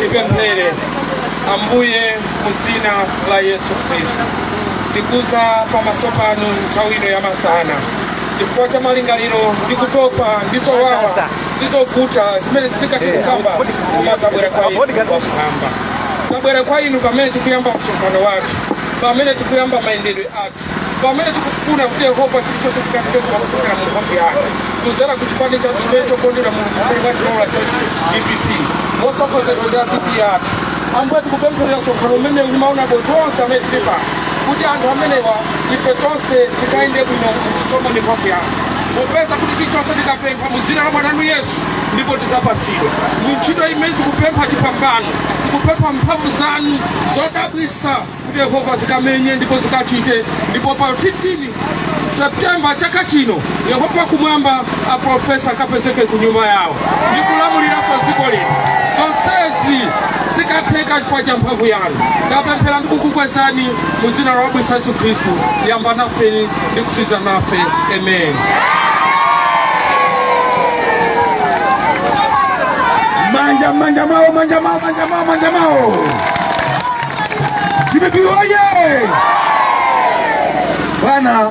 tipemphere ambuye mu dzina la yesu khristu tikudza pamaso panu nthawi ino ya masana chifukwa cha malingaliro ndi kutopa ndi zowawa ndi zovuta zimene sitikutha kukamba koma tabwera kwa inu wafulamba tabwera kwa inu pamene tikuyamba msonkhano wathu pamene tikuyamba mayendedwe athu pamene tikufuna kuti yehova chilichonse chikatidwe kumakufuna mu mphamvu yanu kudzera ku chipani chathu chimene chokondedwa mulungu chimene mwatilola cha dpp motsogozedwa ndi a vp athu ambuye tikupempherera msonkhano umenewu ndi maulendo onse amene tili pano kuti anthu amenewa ife tonse tikayende bwino mchisomo ndi mphamvu yanu popeza kuti chilichonse tikapempha mu dzina la mwana wanu yesu ndipo tidzapatsidwa mu ntchito imene tikupempha chipambano tikupempha mphamvu zanu zodabwitsa kuti yehova zikamenye ndipo zikachite ndipo pa 15 septemba chaka chino Yehova kumwamba aprofesa akapezeke ku nyumba yawo ndi kulamuliranso dziko lino. Zonsezi zikatheke chifukwa cha mphamvu yanu. Ndapemphera ndi kukukwezani mu dzina lodabwitsa Yesu Khristu. Yamba nafe ndi kutsiriza nafe. Amen. Manja manja mao manja mao manja mao manja mao. DPP oye! Bwana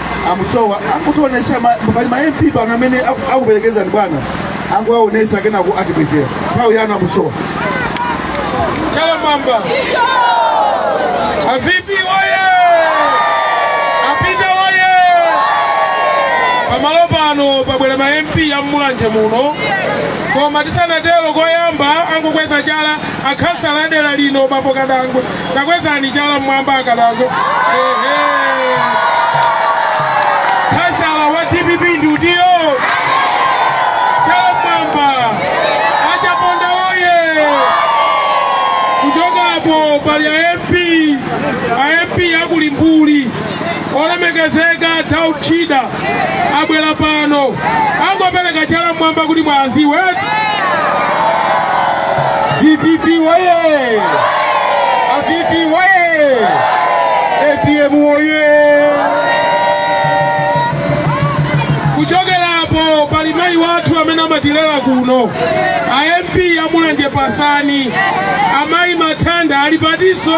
amusowa angotionesa pali ma mp pano amene aku- akuperekezani bwana angoaonesa kenako atibwezera nthawi yanu amusowa Chalamamba. A VP woye! A Peter woye! Pamalo pano pabwera ma MP ya Mulanje muno. Koma tisanatero koyamba angokweza chala akhansala a dera lino bambo kadangwe takwezani chala mmwamba akadako ehe khansala wa dpp ndi uyo chala mmwamba achaponda oye kuchoka apo pali a mp a mp akulimbuli olemekezeka tauchida abwera pano angokweza chala mmwamba kuti muwadziwe dpp waye a vp waye apm waye kuchokera apo pali mayi wathu amene amatilera kuno a mp amulanje pasani amayi mathanga ali patinso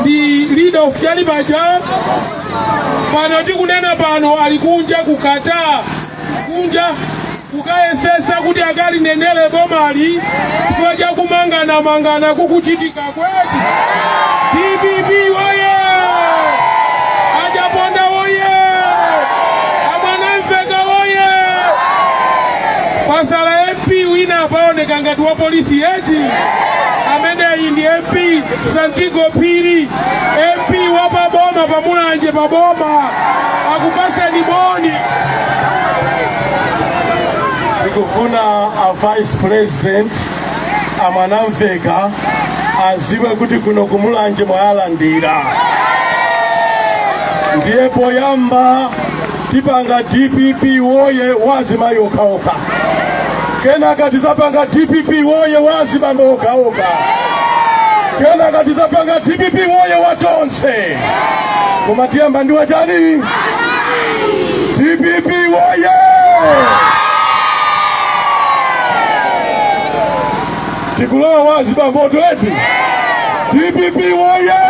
ndi leader of chiyani paja pano tikunena pano ali kunja ku Qatar kunja kukayesesa kuti akalinenere bomali chifukwa cha kumanganamangana kukuchitika kuno eti dpp woye achaponda woye amwanamveka woye khansala mp wina apaoneka ngati wa polisi yet ameneyi ndi mp Santigo Phiri MP wa paboma pa Mulanje paboma akupatsani moni. Ndikufuna a vice president a Mwanamveka adziwe kuti kuno ku Mulanje mwayalandira ndiye poyamba tipanga dpp woye wa azimayi okhaokha kenaka tizapanga dpp woye wa azibambo okhaokha kenaka tizapanga dpp woye wa tonse koma tiyamba ndi wachani dpp woye tikulowa wa azibambo eti dpp woye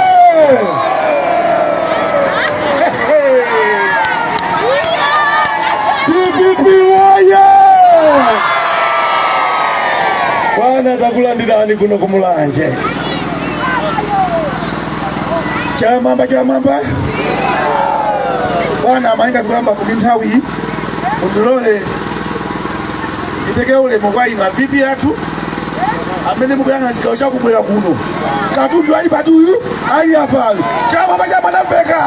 dpp woye bwana takulandirani kuno kumulanje chamamba chamamba bwana a Mainja poyamba kuti nthawi iyi mundilole ndipeke ulemu kwa inu a VP athu amene mukuyang'ana chigawo chakummwera kuno katundu wa chipani uyu ali apayo Che Mwanamveka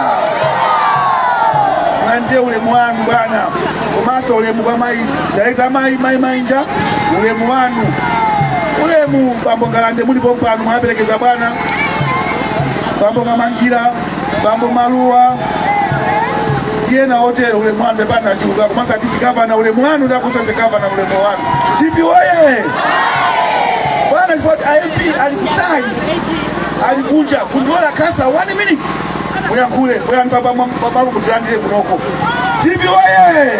landirani ulemu wanu bwana komanso ulemu kwa mayi direkta mayi mayi mainja ulemu wanu ulemu bambo ngalande muli pompano mwaperekeza bwana bambo kamangira bambo maluwa ndi ena otero ulemu wanu pepani mwachuluka kumanga tisikavana ulemu wanu ndakusa sikavana ulemu wanu dpp woye bwana chifukwa kuti a mp ali kutali ali kunja ndilola khansala one minute muyankhule bwerani pabalu mutilandire kunoko dpp woye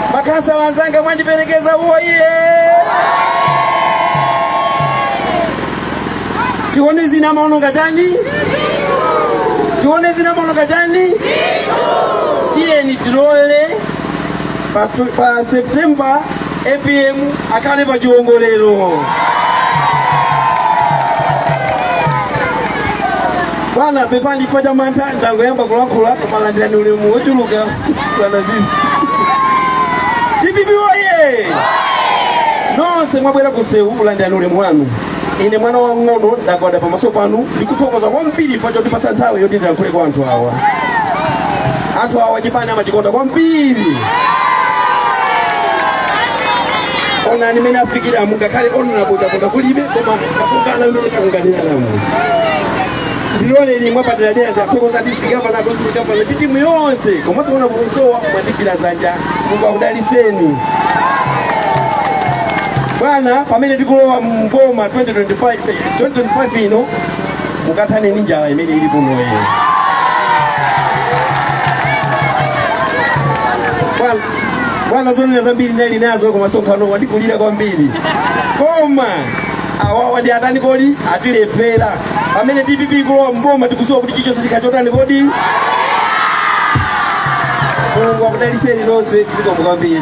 Makhansala anzanga mwandiperekeza woye tione zina maononga chani tione zina maononga chani tiyeni tilowe pa september apm akhale pa chiwongolero bwana pepani chifukwa cha mantha ndangoyamba kulankhula koma landirani ulemu wochuluka Bwana Ndini. DPP woye! Nonse mwabwera kusewu kulandira ulemu wanu. Ine mwana wang'ono ndagwada pamaso panu ndikuthokoza kwambiri pa chotipasa nthawi yoti ndilankhule kwa anthu awa. Anthu awa chipani amachikonda kwambiri. Onani mene afikira mungakhale onena kuti akonda kulibe koma akungana mene akunganiramu. ndiloleni mwapaderadera ndathokoza district governor constituency governor ndi timu yonse komanso kuona kusowa mwatigwira zanja mulungu akudaliseni bwana pamene tikulowa mboma 2025 2025 ino mukathane ndi njala imene ili kunoyi bwana zonena zambiri ndinali nazo koma sonkhano wandikulira kwambiri koma awawa ndi atani kodi atilephera pamene dpp ikulowa mboma tikuziwa kuti chichonse chikachotani kodi mulungu akudaliseni nonse zikomo kwambiri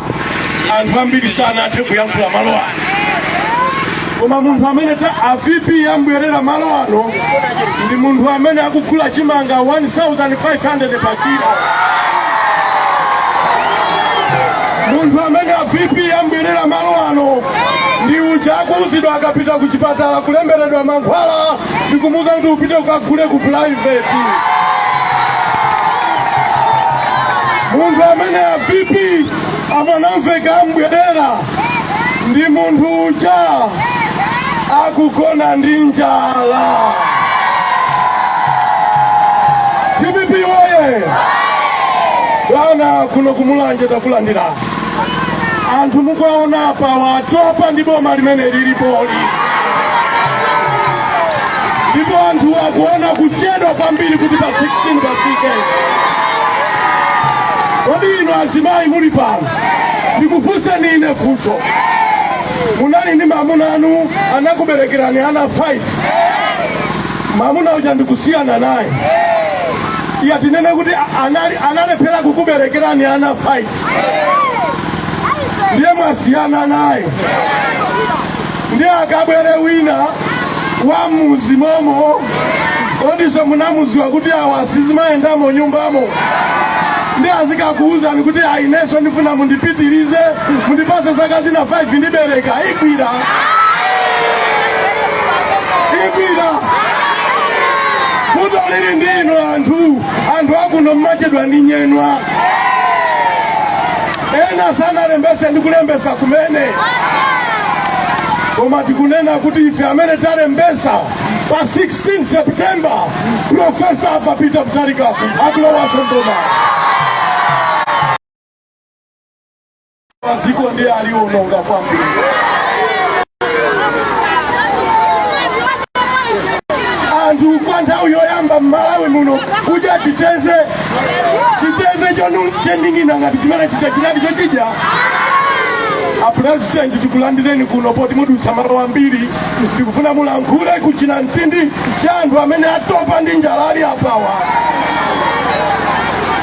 anthu ambiri sanathe kuyankhula malo ano koma munthu amene a vp ambwerera malo ano ndi munthu amene akugula chimanga 1500 pa kilo munthu amene a vp ambwerera malo ano ndi uja akuuzidwa akapita ku chipatala kulemberedwa mankhwala ndikumuuza kuti upite ukagule ku private munthu amene a vp amanamveka ambwerera ndi munthu uja akugona ndi njala dpp woye bwana kuno kumulanje takulandira anthu mukuwaona apawa atopa ndi boma limene lilipoli ndipo anthu akuona kuchedwa kwambiri kuti pa 16 pafike kodi inu azimayi muli pano ndikufunseni ine funso munali ndi mamuna anu anakuberekerani ana 5 mamuna uja ndikusiyana naye iya tinene kuti analephera kukuberekerani ana 5 ndiye mwasiyana naye ndiye akabwere wina wa muzimomo oti nso munamuziwa kuti awa asizimayendamo nyumbamo nde azikakuuzani kuti aineso ndifuna mundipitirize mundipase zaka zina 5 ndibereka igwirigwiri vuto lili ndi inu anthu anthu akuno mmachedwa ndi nyemba ena sanalembese ndi kulembesa kumene koma tikunena kuti ife amene talembesa pa 16 septemba profesa arthur peter mutharika akulowaso mboma Dziko ndiye aliononga kwambiri. Anthu kwa nthawi yoyamba m'Malawi muno kuja chiteze chiteze chonu chendingina ngati chimene chichachiradi chochija apulezidenti tikulandireni kuno poti mwadutsa malo ambiri ndikufuna mulankhule kuchinamtindi cha anthu amene atopa ndi njala ali apawa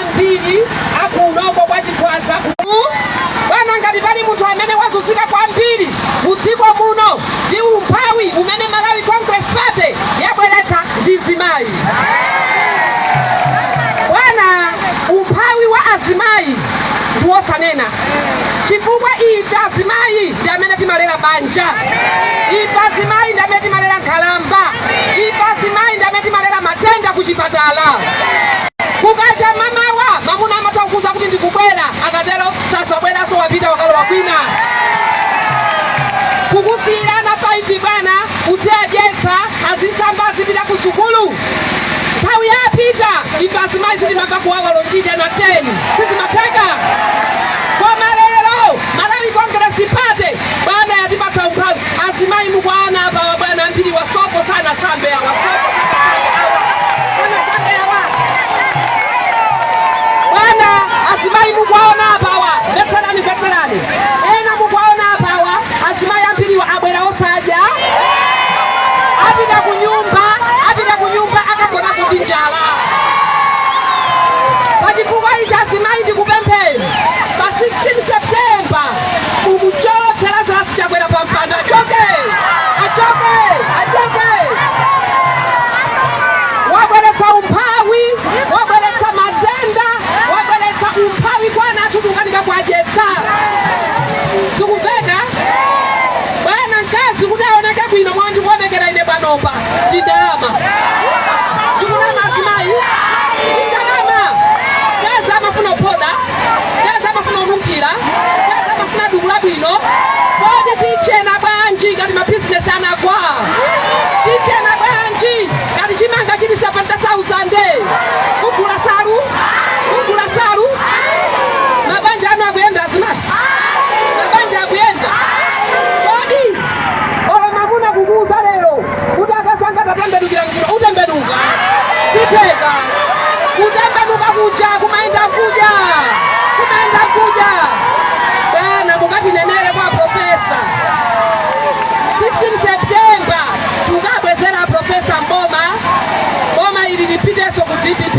ambiri akunoko kwa Chikwawa kuno bwana ngati pali munthu amene wazunzika kwambiri mu dziko muno ndi umphawi umene Malawi Congress Party yabweretsa ndi mzimayi bwana umphawi wa azimayi ndi wosanena chifukwa ife azimayi ndi amene timalera banja ife azimayi ndi amene timalera nkhalamba ife azimayi ndi amene timalera matenda ku chipatala Kukacha mamawa mamuna amatha kukuuza kuti ndikubwera, akatero sadzabweranso wapita wakalowa kwina. Kukusiyira ana 5 bwana, uziwadyetsa, azisamba, azipita ku sukulu. Nthawi ya a Peter ife azimayi sitimamva kuwawa olo tidya na 10 sizimatheka. Koma lero Malawi Congress Party bwana yatipatsa umphawi. Azimai mukuwaona apa awa bwana ambiriwa sopo sanasambe awa sopo sanasambe awa sanasambe awa bwana azimai mukuwaona apa awa mvetserani mvetserani ena mukuwaona apa awa azimai ambiriwa abwera osadya apita kunyumba apita kunyumba akagona ndi njala pachifukwa ichi azimai ndikupempheni pa 16 septemba Mumuchotse Lazarus Chakwera pa mpando, achoke, achoke, achoke. Wabweretsa umphawi, wabweretsa matenda, wabweretsa umphawi kwa ana athu kukanika kuwadyetsa. Zikumveka bwana mkazi kuti aoneke bwino mwa ndikuonekeramu ine panopa ndi ndalama ndikunama azimayi ndi ndalama mkazi amafuna kuphoda teza amafuna onunkhira teza amafuna duku labwino kodi tichena bwanji ngati mabizinesi anagwa tichena bwanji ngati chimanga chili 70000 kugula salu kugula salu mabanja anu akuyenda azimayi mabanja akuyenda kodi olo mamuna kukuuza lero kuti akazi anga tatembenukira kuno utembenuka zitheka kutembenuka kuja kumayenda kuja kumayenda kuja bwana mukatinenere kwa profesa 16 septemba tukabwezera profesa m'boma boma ili lipitenso ku dpp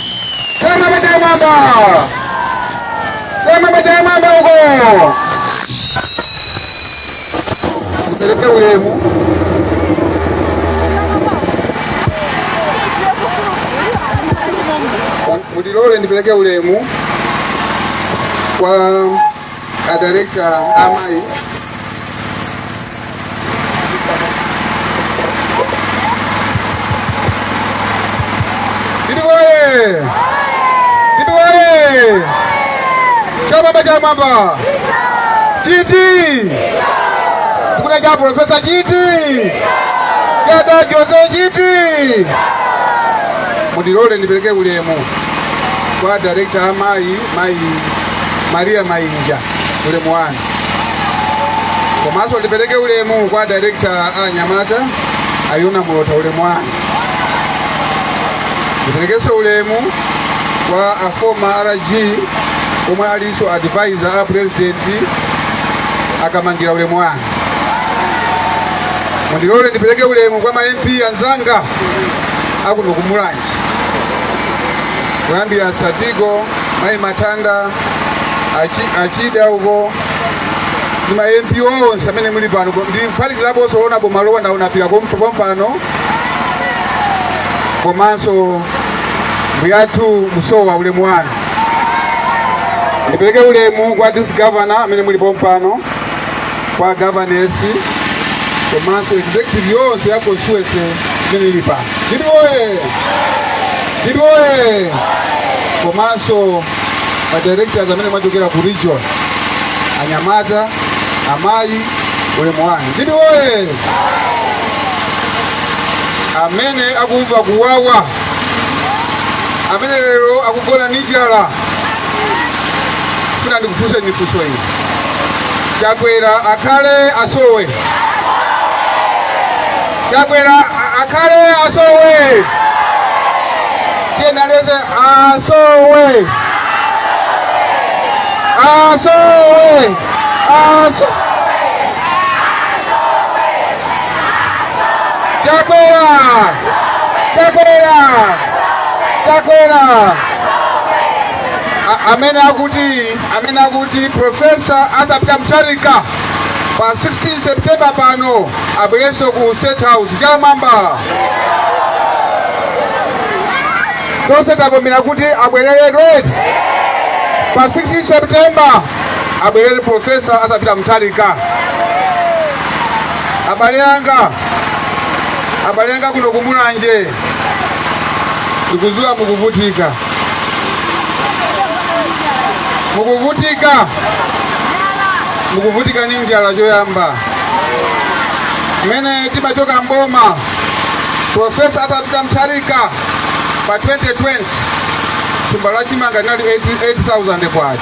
Sema mwenye mwamba. Sema mwenye mwamba huko. Mpeleke ulemu. Mudilole nipeleke ulemu kwa a director Amai. DPP oye! DPP oye! Chala cha m'mwamba! Chiti! Tukuna cha Profesa Chiti! Jada Jose Chiti! Mundilole ndipeleke ulemu kwa director amayi mayi Maria Mainja ulemu wanu komanso ndipeleke ulemu kwa director anyamata a Yona Mlotha ulemu wanu Ndiperekenso ulemu kwa a former RG omwe alinso advisor a president a Kamangira ulemu wanu. Mundilole ndipereke ulemu kwa ma MP anzanga akuno ku Mulanje kuyambira Santigo, Mayi Mathanda, a Chi- a Chida uko ndi ma MP onse amene muli pano ndiphatikizaponso Honourable Malowa ndaona pira kompo pompano komanso mbuyathu Musowa ulemu wanu ndipereke ulemu kwa district governor amene muli pompano kwa governors komanso executive yonse ya constituency imene ili pano DPP oye DPP oye komanso ma directors amene mwachokera ku region anyamata amayi ulemu wanu DPP oye amene akumva kuwawa amene lero akugona ndi njala funa ndikufunseni funso ili chakwera akhale asowe chakwera a- akhale asowe tiyenaleze asowe asowe asowe chakwera chakwera chakwera A- amene akuti amene akuti profesa arthur peter mutharika pa 16 september pano abwerenso ku state house chala m'mwamba tonse tavomera kuti abwerere red pa 16 september abwerere profesa arthur peter mutharika abale anga abale anga kuno kumulanje ndikuziwa mukuvutika mukuvutika mukuvutika ni njala choyamba mmene timachoka m'boma profesa arthur peter mutharika pa 2020 thumba la chimanga linali 8000 kwacha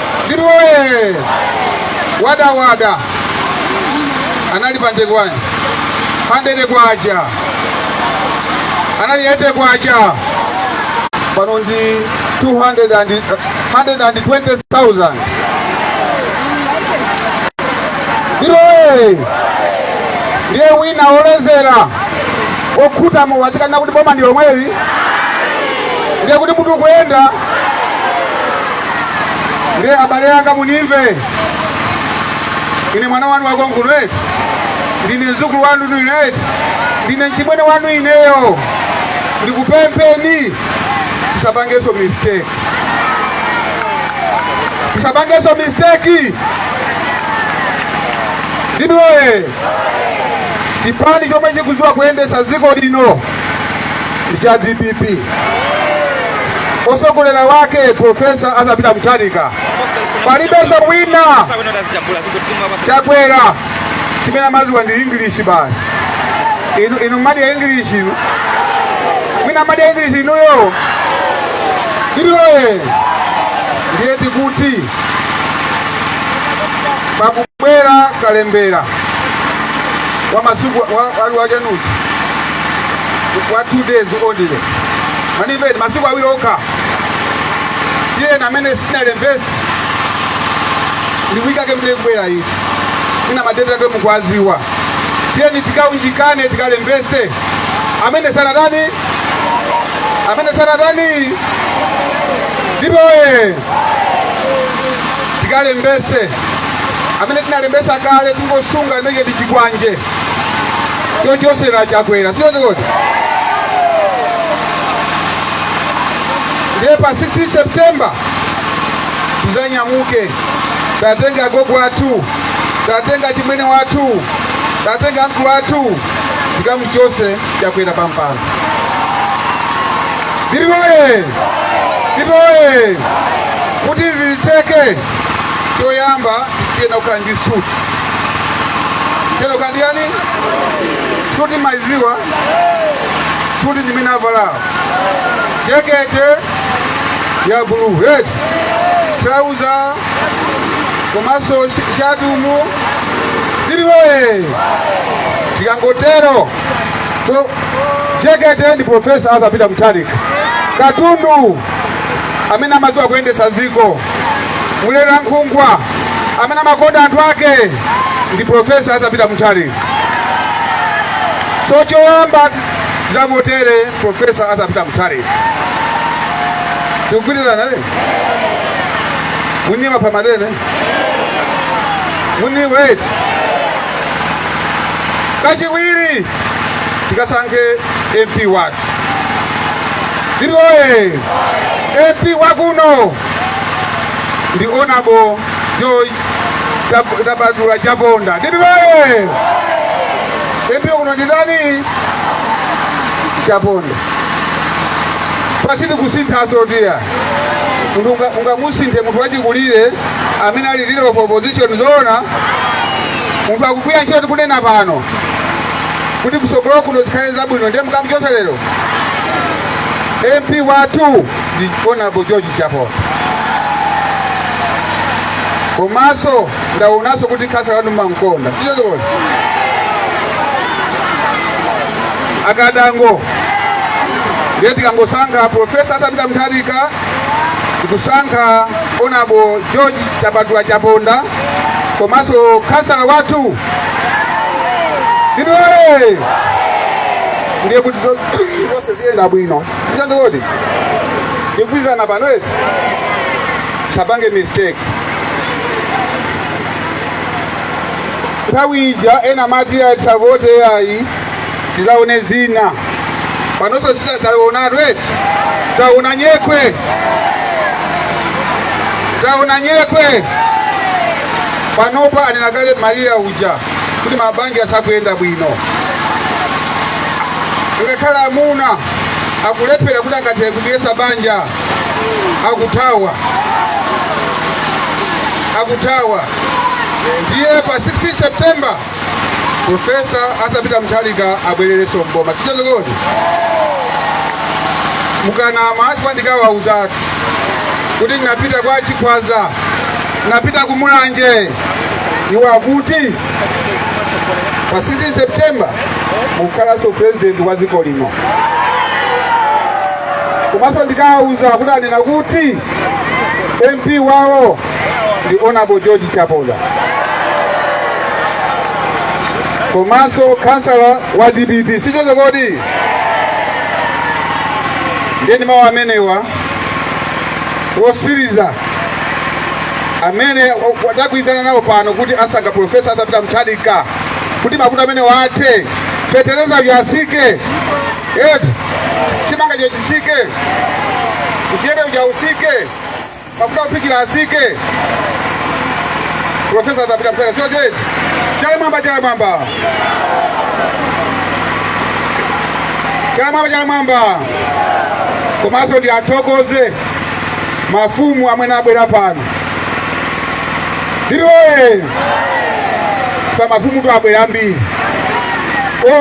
Ndipo ee, wadawada anali pande kwani pa 100 kwacha anali ete kwacha pano ndi 220,000 ndipo ee, ndiye wina wolezera wokhuta mowa azikanena kuti boma ndi lomweli ndiye kuti mutu ukuyenda ndiye abale yanga munimve ine mwana wanu wakonkuno eti ndine mzukulu wanu inu ine eti ndine mchimwene wanu ineyo ndikupempheni tisapangeso mistake tisapangeso mistake dpp oye chipani chomwe chikuziwa kuyendesa dziko lino ndi cha dpp osogolera wake profesa arthur peter mutharika palibenso wina chakwera chimene amaziwa ndi english basi inu mumadya english mwina mumadya english inuyo dpp oye ndiye tikuti paku Bwera kalembera wa masiku wa, wa, wa chenuzi wa two days only mwanimva eti masiku awiri okha tiyeni amene simunalembese ndikuikake mdee kubwera iyi ina madeti ake mukuwaziwa tiyeni tikaunjikane tikalembese amene sanatani amene sanatani dpp oye tikalembese amene tinalembesa kale tingosunga imeneyo ndi chikwanje chochosera chakwera siyote kodi ndiye pa 16 september tizanyamuke tatenga agogo athu tatenga achimwene wathu tatenga amkulu athu tikamuchose chakwera pampando dpp oye dpp oye kuti zitheke choyamba tiyenera kukhala ndi suti tiyenera kukhala ndi yani suti maiziwa suti ndi imene avalawo jekete ya blue red trauza komanso sh- shati umu ziliwe tikangotero so jekete ndi profesa arthur peter mutharika katundu amene amadziwa kuyendetsa dziko Mlerankhungwa amene amakonda anthu ake ndi Profesa Arthur Peter Mutharika. So choyamba tizavotere Profesa Arthur Peter Mutharika. Tikugwirizana ne? Muniwa pamadene? Muniwa eti? Kachiwiri tikasankhe MP wathu. DPP woye MP wakuno ndi honorable George Thap- Thapatula Chaponda. DPP woye MP wakuno ndi ndani? Chaponda. Basi tikusinthanso chiyani munthu unga- ungamusinthe munthu wachikulire amene ali leader of opposition zoona munthu akugwira ntchito tikunena pano kuti kusogolo kuno zikhale zabwino ndiye mukamuchotse lero mp wathu ndi honorable george chaponda komanso ndaonanso kuti khansala wanu mankonda sichoncho kodi a kadango ndiye tikangosankha profesa arthur peter mutharika tikusankha honorable george thapatula chaponda komanso khansala wathu Inoe! Ndiye kuti zo- zonse ziyenda bwino. Sichoncho kodi? Tikugwirizana pano eti? Sapange mistake. Nthawi ija ena mati asavote ayi tizaone zina panoso sita taonatu eti taona nyekhwe taona nyekhwe panopa anena kale maria uja kuti mabanja sakuyenda bwino ngakhale amuna akulephera kuti angathe kudyetsa banja akuthawa akuthawa ndiye pa 16 september profesa arthur peter mutharika abwererenso mboma sichoncho kodi mukanama asipa ndikawauza ati kuti ndinapita kwa chikhwaza ndinapita ku mulanje iwo akuti pa 16 september mukhalanso president wa dziko lino komanso ndikawauza kuti anena kuti mp wawo ndi honorable george chaponda komanso kansala wa dpp sichoncho kodi nde ndi mawu amenewa wotsiriza amenewa tagwirizana nawo pano kuti asankha profesa arthur peter mutharika kuti mavuto amenewa athe fetereza uja atsike eti chimanga chechi utsike mchele uja utsike mafuta ophikira atsike profesa arthur peter pita sio jeje chala mmwamba chala mmwamba chala mmwamba chala mmwamba komanso ndiwathokoze mafumu amene abwera pano ndiloye sa mafumutu abwera ambiri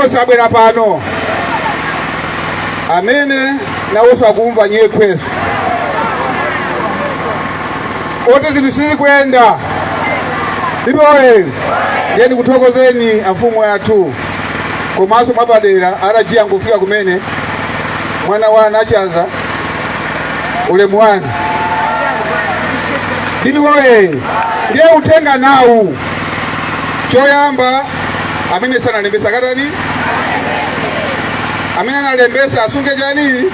onse abwera pano amene nawonso akumva nyekhwe zoti zinthu sizikuyenda dpp woye ndiye ndikuthokozeni amfumu athu komanso mwapadera atajiya nkufika kumene mwana wa anachaza ulemu wanu dpp woye ndiye uthenga nawu choyamba amene sanalembetse akatani amene analembetsa asunge chani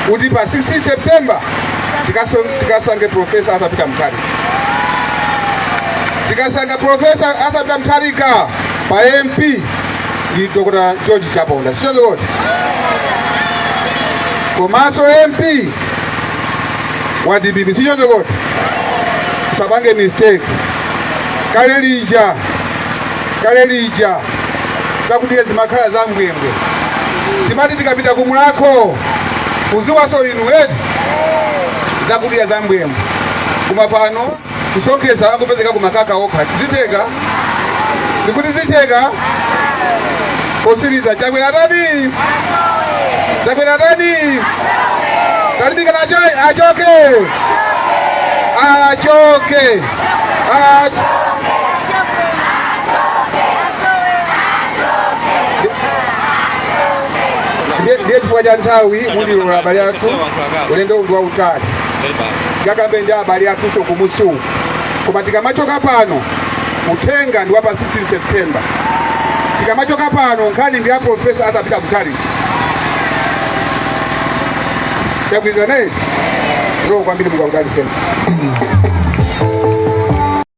kuti pa 16 september tikaso- tikasankhe profesa arthur peter mutharika tikasankha profesa arthur peter mutharika pa mp ndi dr george chaponda sichoncho kodi komanso mp wa dpp sichoncho kodi usapange mistake kale lija kale lija zakudya zimakhala za mbwembwe timati tikapita ku mulakho kuziwaso inu eti zakudya za mbwembwe koma pano kusonkhesa angopezeka kumakaka okha ziteka ndikuti ziteka posiriza chakwera atani chakwera atani talimbikana achoke achoke Acho. Ndiye- ndiye chifukwa cha nthawi mundilola abale athu ulendowu ndi wautali tikakambe ndi abale athuso kumusi uku koma tikamachoka pano uthenga ndi wa pa 16 september tikamachoka pano nkhani ndi ya profesa atapita kutali Chakwizanaye zokupambira mukaudaliseni